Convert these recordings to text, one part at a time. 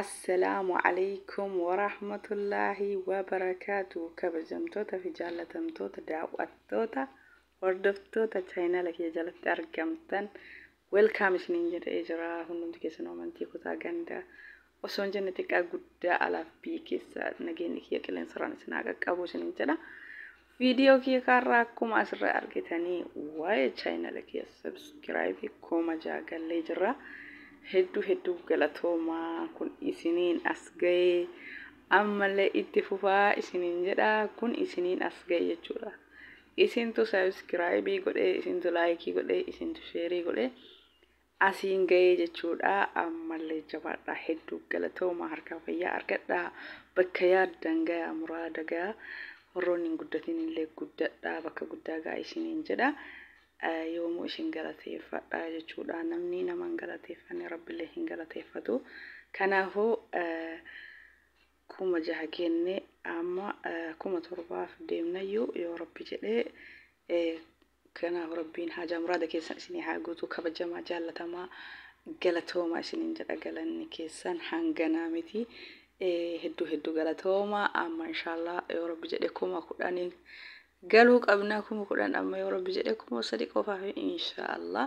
Assalaamu Aleykum Warahmatullaahi Wabarakaatuh Kabajamtoota fi Jaallatamtoota Daawwattoota Hordoftoota Chaayinaala kiyya jalatti argamtan Welcome isiniin jedhee jira hundumti keessanuu amantii kutaa ganda osoo hin jenne xiqqaa guddaa alaaf biyya keessa nageenyi kiyya qilleensarraan isin haa qaqqabu isiniin jedha Video kiyya ka har'aa akkuma asirra argitanii waa'ee channel kiyya subscribe kuma ja'a gallee jirra. Hedduu hedduu galatoomaa kun isiniin as ga'e ammallee itti fufaa isiniin jedha kun isiniin as ga'e jechuudha. Isintu subscribe godhee isintu like godhee isintu share godhee asiin ga'ee jechuudha ammallee jabaadhaa hedduu galatoomaa harkaa fayyaa argadhaa bakka yaaddan gayaa muraada gayaa warroonni hin guddatiin illee guddadhaa bakka guddaa gaa isiniin jedha yoomuu isin galateeffadha jechuudha namni nama hin galateeffanne rabbillee hin galateeffatu kanaafuu kuma jaha kenne amma kuma torbaaf deemnayyuu yoo rabbi jedhee Kanaaf Rabbiin haajaa muraada keessan isinii haa guutu kabajamaa jaallatamaa galatoomaa isiniin jedha galanni keessan hanganaa miti hedduu hedduu galatoomaa amma inshaallaa yoo rabbi jedhe kuma kudhaniin galuu qabna kuma kudhan amma yoo rabbi jedhe kuma sadi qofaaf inshaallaa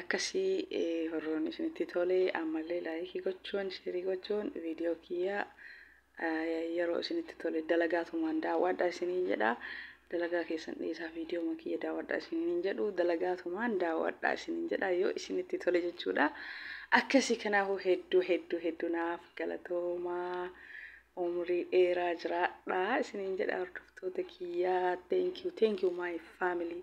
Akkasi warroonni isinitti tole ammallee laayikii gochuun sheerii gochuun viidiyoo kiyya yeroo isinitti tole dalagaatumaan daawwadha isiniin jedha dalagaa keessan dhiisaa viidiyoo kiyya daawwadha isiniin jedhu dalagaatumaan daawwadha isiniin jedha yoo isinitti tole jechuudha akkasi kanaafuu hedduu hedduu hedduu naaf galatoomaa umrii dheeraa jiraadha isiniin jedha hordoftoota kiyya thank you thank you my family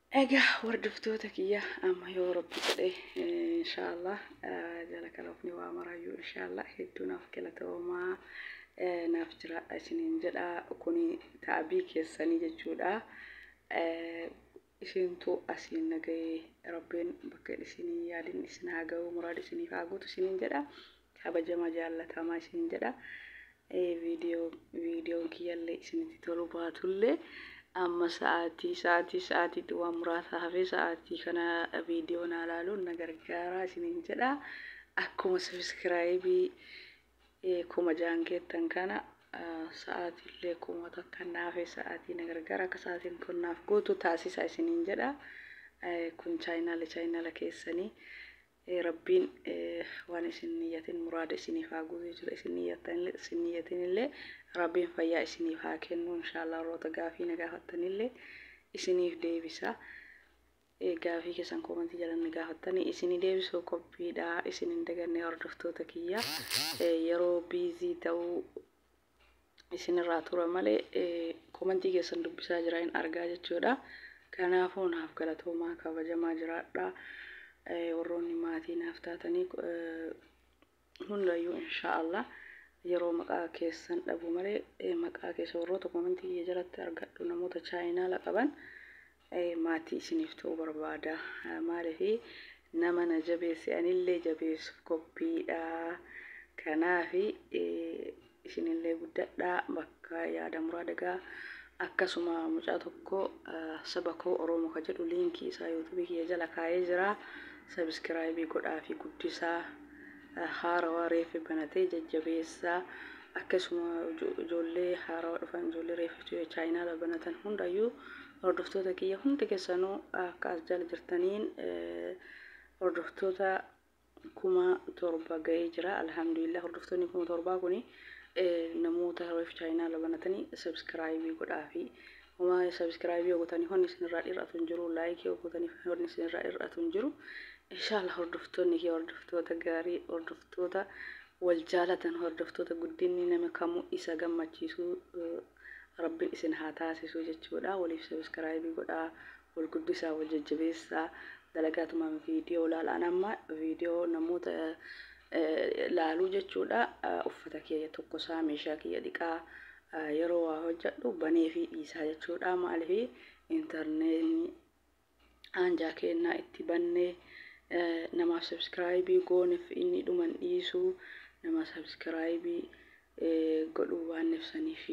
Egaa hordoftoota kiyya amma yoo rabbi jedhe inshaallah jala kalofni waa maraayyuu inshaallah hedduu naaf galatoomaa naaf jiraadha isiniin jedha kuni taabii keessanii jechuudha isintu asiin nagahee rabbiin bakka isinii yaadin isin haa ga'u muraada isiniif haa guutu isiniin jedha Kabajama jaallatama isin jedha. Viidiyoo viidiyoon kiyyallee isinitti tolu baatullee amma sa'aatii sa'aatii sa'aatiitti waan muraasa hafee sa'aatii kana viidiyoo naa laaluun na gargaaraa isinin jedha. Akkuma sabiskiraayibii kuma jaan geettan kana sa'aatiillee kuma takka na hafee sa'aatii na gargaara akka sa'aatiin kun naaf guutu taasisa isinin jedha. Kun chaayinaala chaayinaala keessanii Rabbiin waan isin niyyatin muraada isiniif haa guutu jechuudha. Isin niyyattanillee isin niyyatinillee Rabbiin fayyaa isiniif haa kennu. Inshaallah warroota gaafii na gaafattanillee isiniif deebisa. Gaafii keessan koomantii jala na gaafattanii isinii deebisuu qophiidha. Isin hin daganne hordoftoota kiyya. Yeroo biizii ta'uu isinirraa tura malee komantii keessan dubbisaa jira hin argaa jechuudha. Kanaafuu naaf galatoomaa kabajamaa jiraadha. Warroonni maatii naaf taatanii hundayyuu inshaallah yeroo maqaa keessan dhabu malee maqaa keessa warroota komantii kiyya jalatti argadhu namoota chaayinaala qaban maatii isiniif ta'uu barbaada maaliif nama na jabeesse anillee jabeessuuf qophiidha kanaaf isinillee guddadhaa bakka yaada muraa dagaa akkasuma mucaa tokko saba koo oromo ka jedhu liinkii isaa yuutubii kiyya jala kaa'ee jira sabiskiraayibii godhaa fi guddisaa haarawaa reeffi banatee jajjabeessaa akkasuma ijoollee haarawaa dhufan ijoollee reeffi chaayinaala banatan hundayyuu hordoftoota kiyya hundi keessanuu akka as jala jirtaniin hordoftoota kuma torba ga'ee jira alhamdulillah hordoftoonni kuma torbaa kuni namoota reeffi chaayinaala banatanii sabskraayibii godhaafi Waa'ee subscribe yoo gotani honni isin irraa dhir'atu hin jiru like yoo gotani honni isin irraa dhir'atu hin jiru inshallah hordoftoonni kee hordoftoota gaarii hordoftoota wal jaalatan hordoftoota guddinni nama kamuu isa gammachiisu rabbiin isin haa taasisu jechuudha waliif subscribe godhaa wal guddisaa wal jajjabeessaa dalagaatumaan viidiyoo laalaan amma viidiyoo namoota laaluu jechuudha uffata kiyya tokkosaa meeshaa kiyya dhiqaa Yeroo waa hojjadhu baneefii dhiisaa jechuudha. Maaliif intarneetni aanjaa keennaa itti bannee namaaf sabskraayibii gooneef inni dhuman dhiisu nama sabskraayibii godhuu baanneef saniif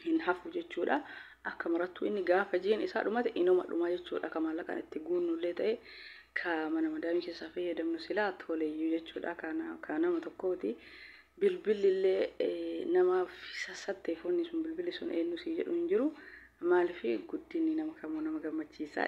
hin hafu jechuudha. Akka marattuu inni gaafa jiin isaa dhumate inuma dhuma jechuudha. Ka maallaqaan itti guunnullee ta'e ka mana madaamii keessaa fayyadamnu silaa toleyyuu jechuudha. Ka nama tokkooti. Bilbilli illee namaaf sassatte foonni sun bilbilli sun eenyu sii jedhu hin jiru. Maaliif guddinni nama kamuu nama gammachiisa.